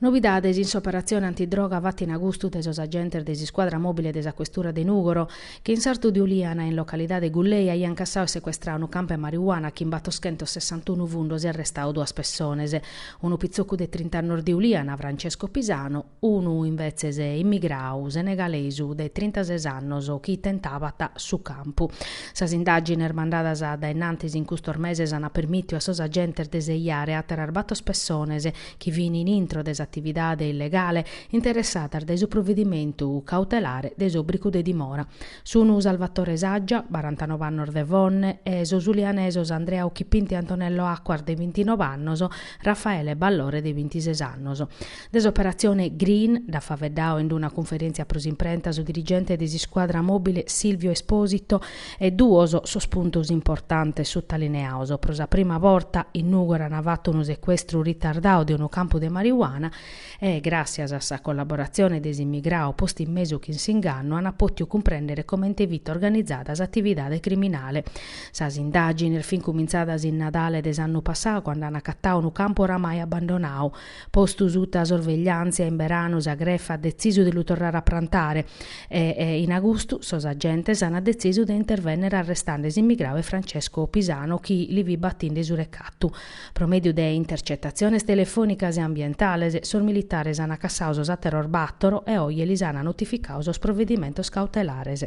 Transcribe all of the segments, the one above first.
Novidades in s'operatzione antidroga fata in agustu dae sos agentes de s'iscuadra mòbile de sa questura de Nùgoro, chi in sartu de Uliana, in localidade Gullei, aiant cassadu e secuestradu unu campu 'e marijuana chin batoschentos sessantunu fundos e arrestadu duas pessones, unu pitzocu de trinta annos de Uliana, Francesco Pisano, Unu, imbetzes, immigradu senegalesu de trintases annos chi tentabat su campu. Sas indàgines mandadas a dae innantis in custos meses ant permìtiu a sos agentes de sejare àteras bator pessones chi fin in intro de s'atividade illegale interessadas dae su provedimentu cautelare de s'òbricu de dimora. Sun Salvatore Saggia, barantanobe annos de Fonne, e sos ulianesos Andrea Occhipinti e Antonello Acquas de bintinobe annos, Raffaele Ballore de bintises annos. De s'operatzione Green nd'at faeddadu in una cunferèntzia pro s'imprenta su dirigente de s'iscuadra mòbile Silvio Esposito e duos sos puntos importantes sutalineados, pro sa prima borta in Nùgoro an fatu unu secuestru ritardadu de unu campu de marijuana e, gràssias a sa collaboratzione de s'immigradu postu in mesu chin s'ingannu, an pòtiu cumprèndere comente fit organizada s'atividade criminale. Sas indàgines fin cumintzadas in Nadale de s'annu passadu cando an acatadu unu campu oramai abbandonadu, Postu suta sorvegliàntzia in beranu sa grefa at detzisu de lu torrare a prantare e in agustu sos agentes ant detzisu de intervènnere arrestande s'immigradu e Francesco Pisano chi li fit batinde su recatu. Pro mèdiu de intercetatziones telefònicas e ambientales sos militares ant cassadu sos àteros bàtoro e oje lis ant notificadu sos provedimentos cautelares.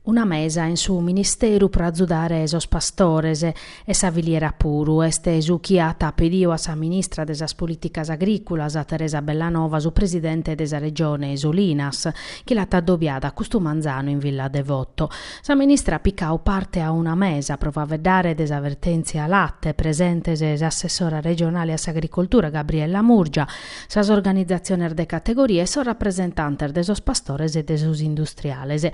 Una mesa in su ministeru pro azudare sos pastores e sa filiera puru, est su chi at pediu a sa ministra de sas Polìticas Agrìculas, Teresa Bellanova, su presidente de sa Regione Solinas, chi l'at addobiada custu manzanu in Villa Devoto. Sa ministra at picau parte a una mesa pro faeddare de sa vertèntzia late, presentes s'assessora regionale a s'agricoltura Gabriella Murgia, sas organizatziones de categoria e sos rapresentantes de sos pastores e de sos industriales.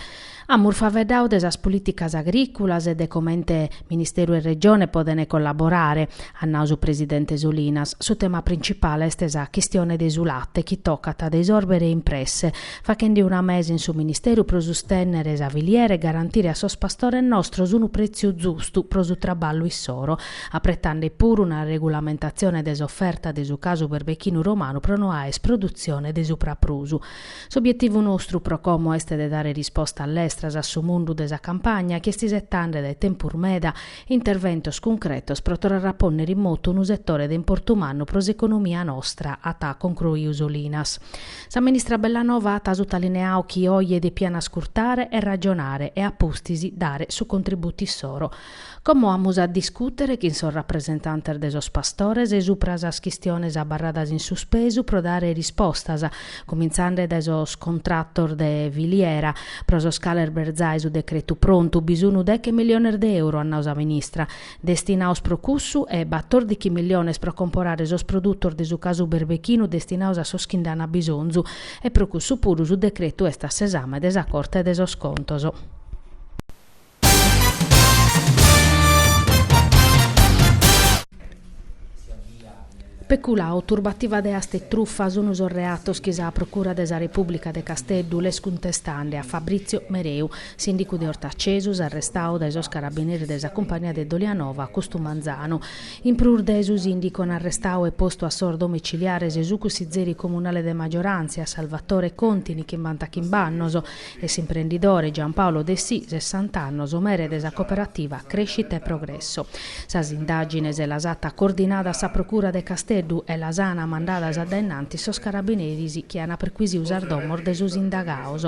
Amus faeddadu de sas polìticas agrìculas e de comente Ministeru e Regione podent collaborare, at nadu su presidente Solinas. Su tema principale est sa chistione de su late chi tocat de isòrbere in presse, fachende una mesa in su Ministeru pro sustènnere sa filiera e garantire a sos pastores nostros unu prètziu zustu pro su traballu issoro, apretande puru una regulamentatzione de s'oferta de su casu berbechinu romanu pro no aer produtzione de su praprusu. S'obietivu nostru pro como est de dare rispostas lestras a su mundu de sa campagna chi est isetande dae tempus meda interventos cuncretos pro torrare a pònnere in motu unu setore de importu mannu pro s'economia nostra, at concruiu Solinas. Sa ministra Bellanova at sutalineau chi oje depiat ascurtare e ragionare e a pustis dare su contributu issoro. Como amus a discùtere chin sos rapresentantes de sos pastores subra sas chistiones abarradas in suspesu pro dare rispostas, cumintzende dae sos contratos de filiera, pro sos cales b'est zai su decretu prontu, bi sunu deche miliones de euro, at nau sa ministra. destinados pro cussu e batòrdichi miliones pro comporare sos produtos de su casu berbechinu destinados a sos chi nd'ana bisonzu e pro cussu puru su decretu est a s'esame de sa Corte de sos Contos. Peculao, turbativa de aste e trufa sunu sos reatos chi sa Procura de sa Repùblica de Casteddu l'est cuntestande a Fabrizio Mereu, sìndicu de Ortacesus, arrestau dae sos carabineris de sa cumpagnia de Dolianova custu manzanu. In prus de su sìndicu an arrestau e postu a sos domiciliares su cussizeri comunale de maggiorantzia, Salvatore Contini, chimbantachimbe annos, E s'imprendidore Giampaolo Dessì, sessant'annos, mere de sa cooperativa Crescita e Progresso. Sas indàgines las at coordinadas sa Procura de Casteddu e las ana mandadas a dae innanti sos carabineris chi ana perquisiu sas domos de sos indagaos.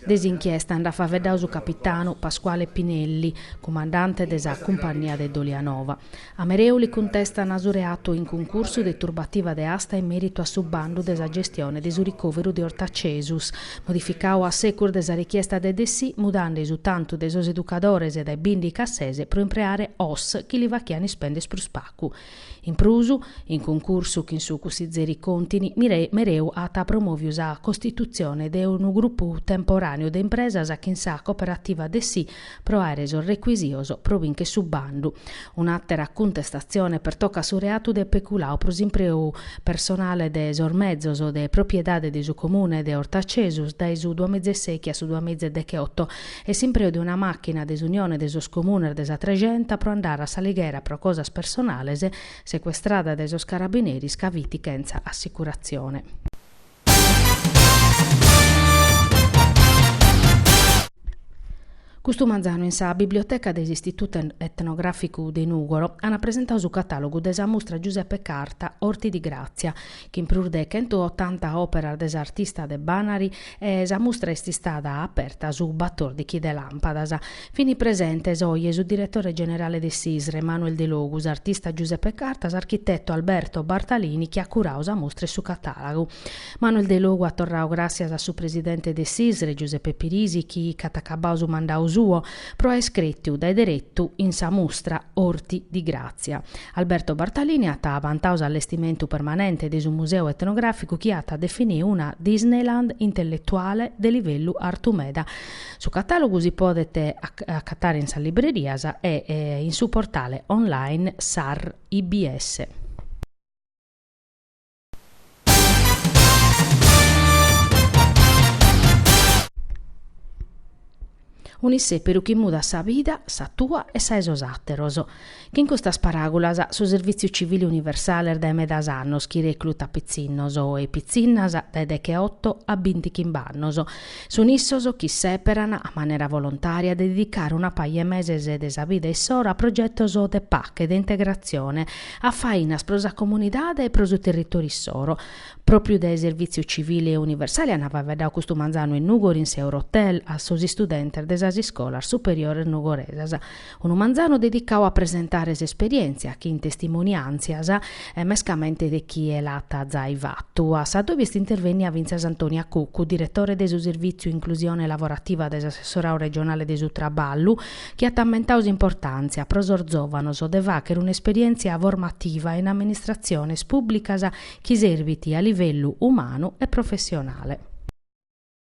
De s'inchiesta nd'at faveddau su capitanu Pasquale Pinelli, cumandante de sa Cumpannia de Dolianova. A Mereu li cuntestan su reatu in cuncursu de turbativa de asta in meritu a su bandu de sa gestione de su ricòveru de Ortacesus, modificau a secus de sa richiesta de Dessì, mudande su tantu de sos educadores dae bìndichi a ses pro impreare sos chi li fachian ispènder prus pacu. In prus, in cuncursu chin su cussizeri Contini, Mereu at promòviu sa costitutzione de unu grupu temporàneu de impresas chin sa cooperativa Dessì pro àere sos recuisitos pro bìnchere su bandu. Un'àtera cuntestatzione pertocat su reatu de peculau pro s'impreu personale de sos mezos de propriedade de su Comune de Ortacesus dae su duamiza e sèchi a su duamiza e decheoto e s'impreu de una màchina de s'Unione de sos Comunes de sa Trexenta pro andare a S'Alighera pro cosas personales, secuestrada dae sos carabineris ca fit chentza assicuratzione. Custu manzanu in sa Biblioteca de s'Istitutu Etnogràficu de Nùgoro ant presentau su catàlogu de sa mustra Giuseppe Carta, Orti di Grazia, chin prus de chentuotanta òperas de s'artista de Banari e sa mustra est istada aperta su batòrdichi de làmpadas. Fin presentes oje su diretore generale de s'ISRE, Manuel Delogu, s'artista Giuseppe Carta, s'architetu Alberto Bartalini chi at curadu sa mustra e su catàlagu. Manuel Delogu at torradu gràtzias a su presidente de s'ISRE, Giuseppe Pirisi, chi ic'at acabadu su mandadu suo, pro aer crètiu dae deretu in sa mustra Orti di Grazia. Alberto Bartalini at vantadu s'allestimentu permanente de su Museu Etnogràficu chi at definiu una Disneyland intelletuale de livellu artu meda. Su catàlogu si podet acatare in sas librerias e in su portale online sa IBS. Un'isseperu chi mudat sa vida, sa tua e sa 'e sos àteros. Chin custas paràgulas, su Servìtziu Civili Universale est dae medas annos chi reclutat pitzinnos e pitzinnas dae decheoto a binti chimb'annos. Sun issos chi sèperan, a manera volontària, de didicare una paja 'e meses de sa vida issoro a progetos de pache, de integratzione, a fainas pro sa comunidade e pro su territòriu issoro. Pròpiu de Servìtziu Civili Universale ant faeddadu custu manzanu in Nùgoro in s'Eurotel a sos istudentes de sas iscolas superiores nugoresas. Unu manzanu dedicau a presentare s'esperièntzia chin testimoniàntzias e mescamente de chie l'at zai fatu, a s'addòbiu est intervènnia fintzas Antonia Cuccu, diretore de su Servìtziu Inclusione Lavorativa de s'Assessorau Regionale de su Traballu, chi at ammentau s'importàntzia pro sos zòvanos de fàchere un'esperièntzia formativa in amministratziones pùbblicas chi serbit a livellu umanu e professionale.